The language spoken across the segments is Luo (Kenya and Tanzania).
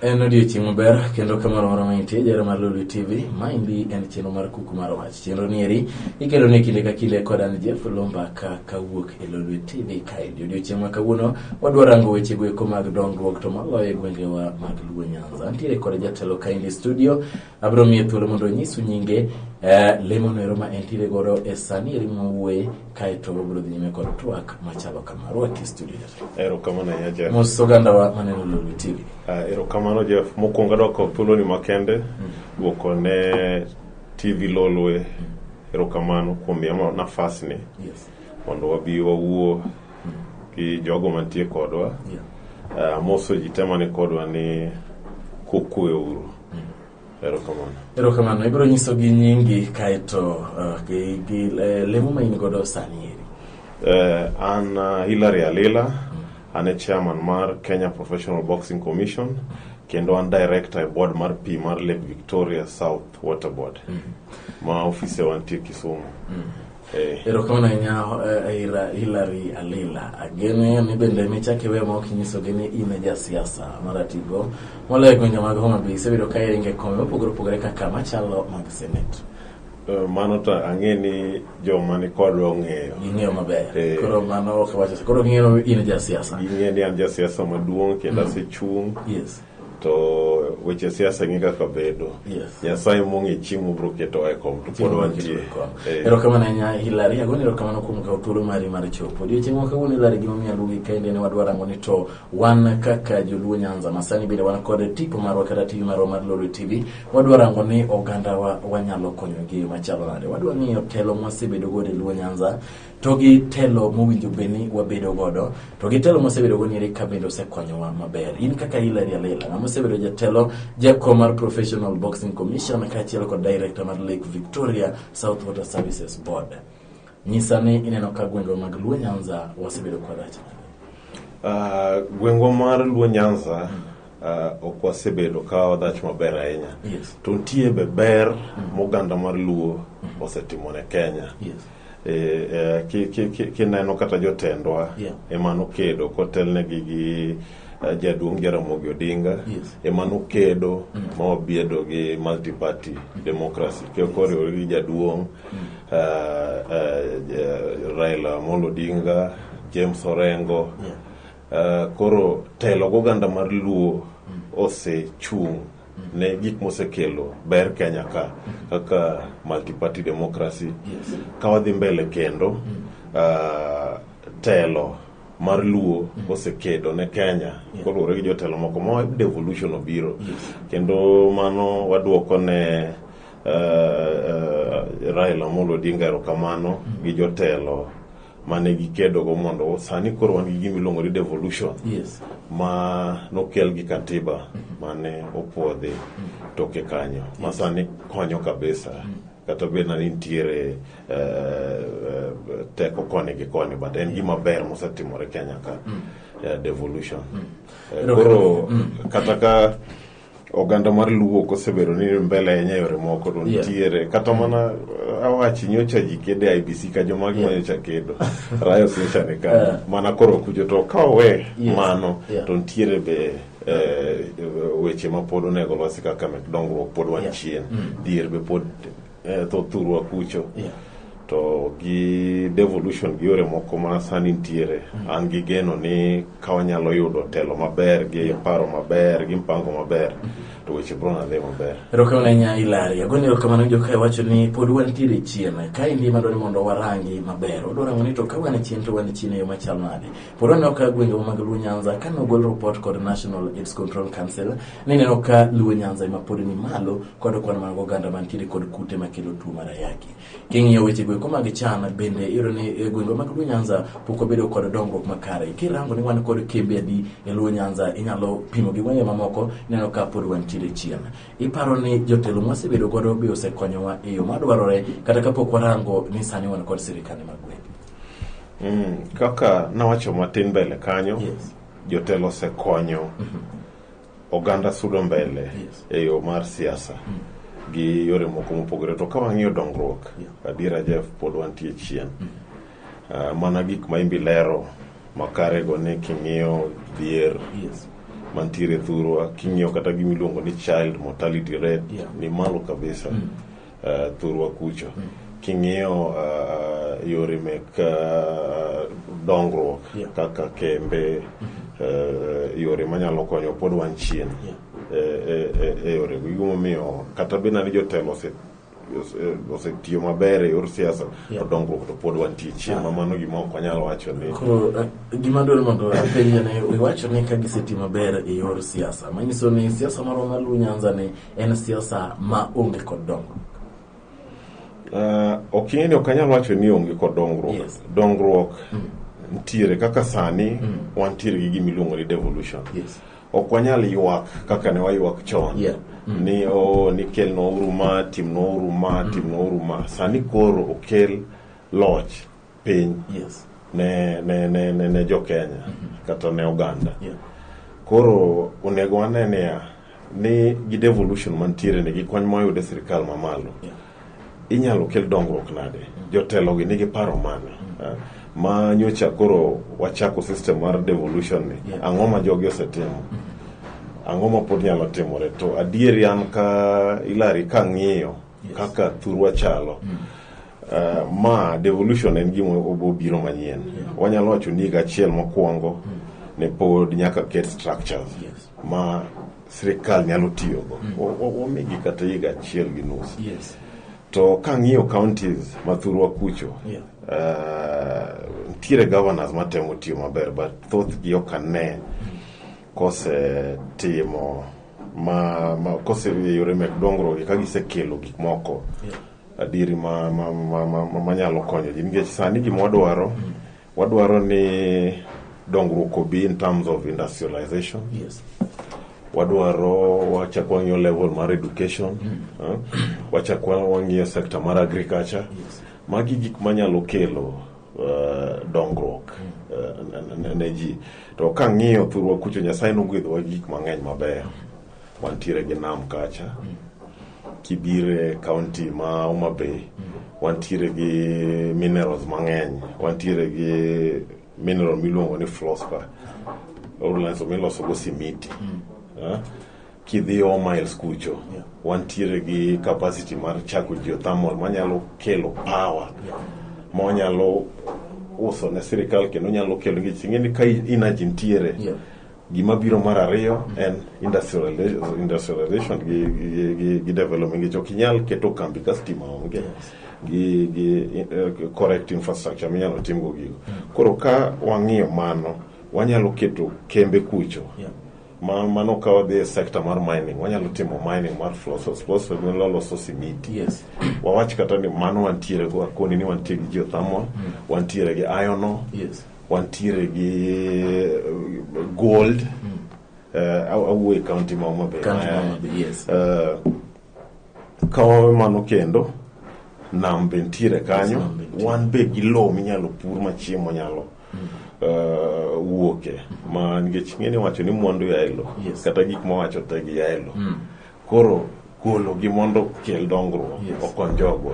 En odiechieng' maber kendo ka moro moro mantie jara mar Lulu TV. Maendi en chenro mar kuku mar wach. Chenro ni eri ikelo ne kinde ka kinde kod an Jeff Lomba ka kawuok e Lulu TV kaendi. Odiechieng' ma kawuono wadwa rango weche goeko mag dongruok to maloyo e gwengewa mag Luo Nyanza. Antiere kod jatelo kaendi studio Abiro miye thuolo mondo onyisu nyinge eh, lemo noero ma entiere godo e sani eri mwawuoye kaeto wabiro dhi nyime kod twak machalo kama rwaki e studio erokamano ahinya jeff mos ogandawa maneno lolwe tv Ah, erokamano jeff mokwongo adwoko thuoloni makende dwoko ne tv lolwe erokamano kuom miya ma- nafasni yes mondo wabi wawuo gi jogo mantie kodwa yeah. Ah, moso ji te mani kodwa ni kukweuru Erokamano. Ibiro nyiso gi nyingi kaeto uh, gi, gi uh, lemo ma in godo sani eri. Uh, an uh, Hilary Alila, mm. an e chairman mar Kenya Professional Boxing Commission kendo an director e board mar pi mar Lake Victoria South Water Board mm. ma ofise wantie Kisumu. Mm. Eh. Erokamano ahinya eh, Hilary Alila. Agene ni bende michak iwe ma ok inyisogi ni in e jasiasa maratigo moloyo e gwenge mag Homa Bay isebedo ka iringo e kombe mopogore opogore kaka machalo mag Senate. Eh, mano to ang'e ni joma ni kodwa ong'eyo ging'eyo maber eh. koro mano ok wacho koro ging'eyo in e jasiasa ging'eyo ni an jasiasa maduong' kendo mm. asechung' yes to weche siasa ing'e kaka bedo yes. nyasaye mong'e chieng' mobiro keto e kom to pod wantie eh. erokamano ahinya hilari agoni erokamano kuom kawo thuolo mari mar chopo odiochieng' ma kawuono hilari gimomiyo aluongi kaende ne wadwa rango ni to wan kaka joluo nyanza masani bende wan kod tipo marwa kata tv marwa mar lolo tv wadwa rango ni ogandawa wanyalo konyogi machalo nade wadwa ng'iyo telo mwasebedo godo e luo nyanza to gi telo mowinjo be ni wabedo godo to gi telo mosebedo go nire ka bende osekonyowa maber in kaka Hilary Alela ng'ama osebedo jatelo jako mar Professional Boxing Commission kaachiel kod director mar Lake Victoria South Water Services Board nyisa ni ineno ka gwengwa mag Luo Nyanza wasebedo kwarach uh, gwengwa mar Luo Nyanza mm. uh, ok wasebedo ka wadhach maber ahinya Yes. to nitie be ber moganda mar luo osetimo ne kenya Yes. Eh, eh, ki- ki- ki- kineno kata jotendwa Yeah. ema nokedo kotelnegi gi eh, jaduong' jaramogi odinga Yes. ema nokedo ma wabedo gi multiparty democracy Ke- koriwore gi jaduong' eh, eh, eh, raila amolo odinga james orengo Yeah. Uh, koro telo goganda mar luo osechung' ne gik mosekelo ber Kenya ka kaka multiparty democracy yes. ka wadhi mbele kendo uh, telo mar luo osekedo ne Kenya yeah. koluwore gi jotelo moko ma devolution obiro yes. kendo mano wadwoko ne uh, uh, Raila Amolo Odinga erokamano mm. gi jotelo mane gikedogo mondo sani koro wan gi gima iluongo ni devolution yes. ma nokel gi katiba mm-hmm. mane opuodhi mm-hmm. toke kanyo ma sani konyo kabisa mm-hmm. kata bed na nitiere uh, uh, teko koni gi koni but en gima ber mosetimore kenya ka uh, devolution uh, koro kata ka oganda mar luo kosebedo ni mbele ahinya e yore moko to Yeah. nitiere kata mana uh, awachi nyocha ji kedo e IBC ka joma Yeah. nyocha kedo rayos nyocha ni ka Yeah. mana koro kujo to ka owe Yes. mano Yeah. to nitiere be eh, weche ma pod onego losi kaka mek dongruok pod wan Yeah. chien Mm. dhier be pod eh, tho thurwa kucho Yeah. to gi devolution gi yore moko ma sani nitiere an gi geno ni ka wanyalo yudo telo maber gi paro maber gi mpango maber to weche bro nadhi maber erokamano ahinya ilari agoni erokamano jokae wacho ni pod wantiere chien ka indi madwa ni mondo warangi maber wadwa rango ni to ka wan chien to wan chien e yo machal nade pod waneno ka gwengewa mag luo nyanza ka nogol report kod national aids control council nineno ka luo nyanza ema pod ni malo kod kwan mag oganda man kinde kod kute makelo tuo mar ayaki. King'iyo weche gweko mag cham bende iyudo ni e gwenge mag Luo Nyanza pok obedo kod dongruok makare. Kirango ni wan kod kembe adi e Luo Nyanza inyalo pimo gi gwenge mamoko ineno ka pod wantiere chien. Iparo ni jotelo mwasebedo godo be osekonyowa e yo madwarore kata kapok warango ni sani wan kod sirikande mag gwenge. Mm, kaka nawacho matin mbele kanyo yes. jotelo osekonyo mm -hmm. oganda sudo mbele Yes. e yo mar siasa gi yore moko mopogore to ka wang'iyo dongruok Yeah. adiera jeff pod wantie chien Ah, mana gik ma imbi lero makarego ni king'iyo dhier Yes. mantiere thurwa king'iyo kata gimiluongo ni child mortality rate Yeah. ni malo kabisa Mm. uh, thurwa kucho mm. king'iyo uh, yore mek uh, dongruok yeah. kaka kembe mm -hmm. uh, yore manyalo konyo pod wan chien yeah. e, e, e, e yore gimomiyo kata bina ni jotelo ose osetiyo maber e yor siasa to dongruok to pod wantie chien ma mano gima ok wanyal wacho ni eh, gima dwaro mondo apenjane iwacho ni ka giseti maber e yor siasa manyiso ni siasa marwa maluw nyanza ni en siasa ma onge kod dongruok. Uh, ok ing'e ni ok anyal wacho ni onge kod dongruok. Yes. Dongruok mm. ntiere kaka sani mm. wantiere gi gima iluongo ni devolution. Yes. Ok wanyal ywak kaka ne waywak chon. Yeah. Mm. Ni o oh, ni kel nouru ma, tim nouru ma, mm. tim nouru ma. Sani koro okel loch. piny yes. ne, ne, ne, ne, ne jo Kenya mm -hmm. kata ne oganda yeah. koro onego wane niya ni gi devolution mantiere ni gi kony moyude sirikal mamalo yeah. inyalo kel dongruok nade mm -hmm. jotelo gi nigi paro mane mm -hmm. uh, ma nyocha koro wachako system mar devolution ni yeah. ang'o ma jogi osetimo mm -hmm. ang'o ma pod nyalo timore to adieri an ka ilari ka ng'iyo kaka thurwa chalo mm. uh, ma devolution en gima obobiro manyien yeah. wanyalo wacho ni higa achiel mokwongo mm. ne pod nyaka ket structures yes. ma sirikal nyalo tiyogo mm. wamigi kata higa achiel gi nus yes. to kang'iyo counties ma thurwa kucho yeah. uh, ntiere governors matemo tiyo maber but thothgi ok ane mm. kosetimo ma, ma kose yore mek dongruok ka gisekelo gik moko adieri ma, ma, ma, ma, ma, ma nyalo konyo ji nikech sani gima wadwaro wadwaro ni dongruok obi in terms of industrialization Yes. wadwaro wachak wang'iyo level mar education eh, wachak wa- wang'iyo sector mar agriculture Yes. magi gik manyalo kelo Eh, dongruok eh, ne ji to ka ng'iyo thurwa kucho nyasaye nogwedhowa gi gik mang'eny mabeyo wantiere gi nam kacha kibire kaunti ma Homa Bay wantiere gi minerals mang'eny wantiere gi mineral miluongo ni fluorspar milosogo simiti eh? kidhi omiles kucho yeah. wantiere gi capacity mar chako geothermal manyalo kelo power yeah. monyalo uso ne sirikal kendo nyalo kelo nikech ing'eni ka energy ntiere yeah. gima biro mar ariyo mm -hmm. en industrialization, industrialization gi, gi, gi, gi development nikech ok inyal keto kambi ka stima onge yes. gi, gi uh, correct infrastructure minyalo timgo gigo mm -hmm. koro ka wang'iyo mano wanyalo keto kembe kucho yeah Ma, mano ka wadhi e sekta mar mining wanyalo timo mining mar flossels flossels gin loloso simiti Yes. wawach kata ni mano wantiere go akoni ni wantie gi geothermal wantiere gi iron ore Yes. wantiere gi eh, gold eh, aw- awuo e kaunti ma Homa Bay. Kaunti ma Homa Bay, yes. Eh, ka wawe mano kendo nam be ntiere kanyo Nam be ntiere. wan be gi lowo minyalo pur ma chiemo nyalo uh, wuoke ma nikech ng'eni wacho ni mwandu ya elo Yes. kata gik mawacho te gi ya elo Mm. koro golo gi mondo kel dongruok Yes. okony jogwa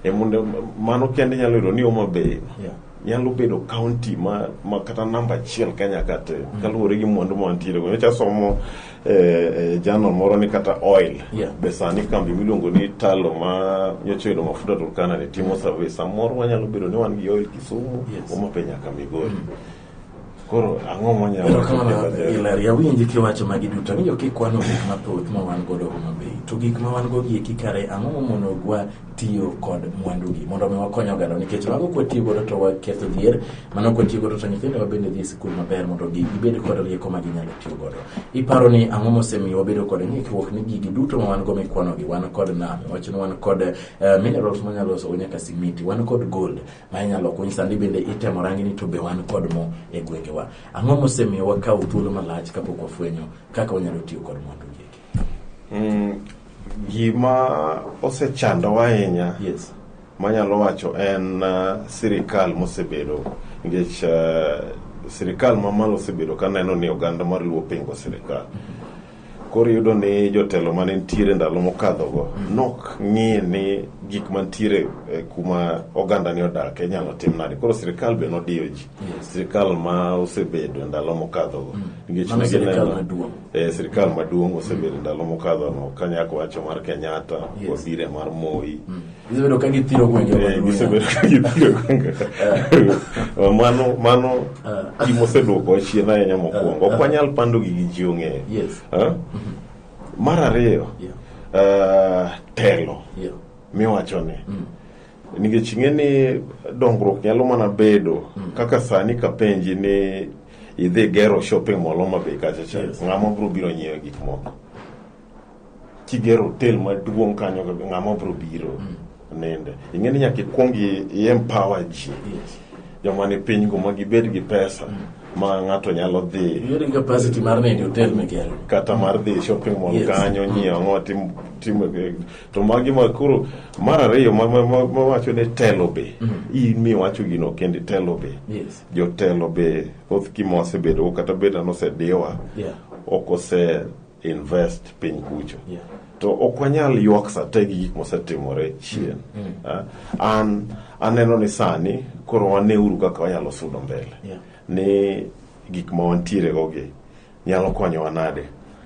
e mondo mano kende nyalo yudo ni Homa Bay Yeah. nyalo bedo county ma, ma kata namba achiel Kenya kate kaluwore gi mwandu ma wantiere go nyocha somo Eh, eh, jano moro ni kata oil yeah. be sani kambi miluongo ni talo ma nyocha oyudo mafuta Turkana ni timo survey samoro wanyalo bedo ni wan gi oil Kisumu yes. omape nyaka Migori mm. koro ang'o monyaloilaria winji kiwacho magi duto ni jo kikwano gik mathoth ma wan godo Homa Bay to gik ma wan go gieki kare ang'o momono gwa tiyo kod mwandugi mondo mi wakony oganda nikech mago kwatiyo godo to waketho dhier mano kwatiyo godo to nyithindo wabende dhi e sikul maber mondo gibed kod rieko ma ginyalo tiyo godo iparo ni ang'o mosemiyo wabedo kod ng'ikruok ni gigi duto ma wan go mikwanogi wan kod nam wach ni wan kod eh, minerals manyalo losogo nyaka simiti wan kod gold ma inyalo kuny sandi bende itemo rangi ni to be wan kod mo e gwengewa ang'o mosemiyo wakawo thuolo malach kapok wafwenyo kaka wanyalo tiyo kod mwandugi Mm, gima osechandowa ahinya yes. manyalo wacho en uh, sirikal mosebedo nikech uh, sirikal mamalo osebedo ka neno ni oganda mar luo pingo sirikal koro iyudo ni jotelo mane nitiere ndalo mokadhogo mm. nok ng'i ni gik mantiere eh, kuma oganda ni odak inyalo tim nade koro sirikal be nodiyo ji sirikal ma osebedo ndalo mokadhogo mm. nikech ne gineno e sirikal maduong' osebedo ndalo mokadho no ka nyako wacho mar Kenyatta yes. wazire mar Moi mm. gisebedo ka githiro gwenge eh, gisebedo ka githiro gwenge eh. mano mano ah. gima oseduoko chien ahinya mokwongo ah. ok wanyal pando gi gi ji ong'eyo yes. Ah? Mm-hmm. mar ariyo yeah. uh, telo yeah. miwacho ni mm. Nikech ing'e ni dongruok nyalo mana bedo mm. kaka sani kapenji ni idhi gero shopping mall Homa Bay kacha cha yes. ng'ama bro biro nyiewo gik moko kigero hotel maduong' kanyo ng'ama bro biro mm. nende ing'e ni nyaka ikwong i empower ji yes. joma ni piny go ma gibed gi pesa mm ma ng'ato nyalo dhi kata mar dhi shopping mall kanyo nyiewo ang'o tim to magi ma koro mar ariyo mawacho ni telo be mm. in miwacho gino kende telo be jotelo be thoth kima wasebedo kata beda nosediwa ok ose invest piny kucho to ok wanyal ywak sate gi gik mosetimore chien mm. mm. ah, an aneno ni sani koro waneuru kaka wanyalo sudo mbele ni gik ma wantiere go gi Nyalo konyowa nade?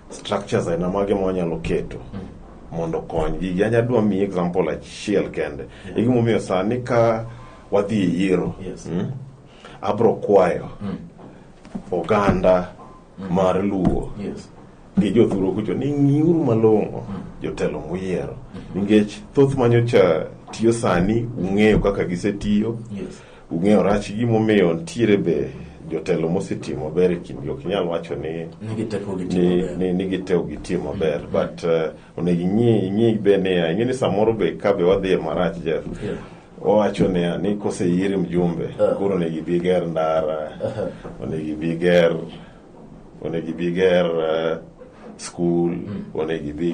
Structures aina mage ma wanyalo keto hmm. mondo okony gigi? Anya dwa miyi example achiel kende. Hmm. E gimomiyo sani ka wadhi e yiero, hmm, abro kwayo oganda mar Luo gi jothuro kucho ni ng'iuru malong'o jotelo muyiero nikech thoth manyocha tiyo sani ung'eyo kaka gisetiyo yes. Ung'eyo rach gimomiyo ntiere be jotelo mosetimo maber e kindgi ok inyal wacho ni Nigi teko gi timo ni, maber. ni, ni giteo gitie maber but uh, onego ing'i ing'i be niya ing'e ni samoro be ka be wadhi e marach Jeff Yeah. wawacho niya ni koseyier mjumbe Ah. koro onego ibi ger ndara onego ibi ger onego ibi ger uh, skul onego ibi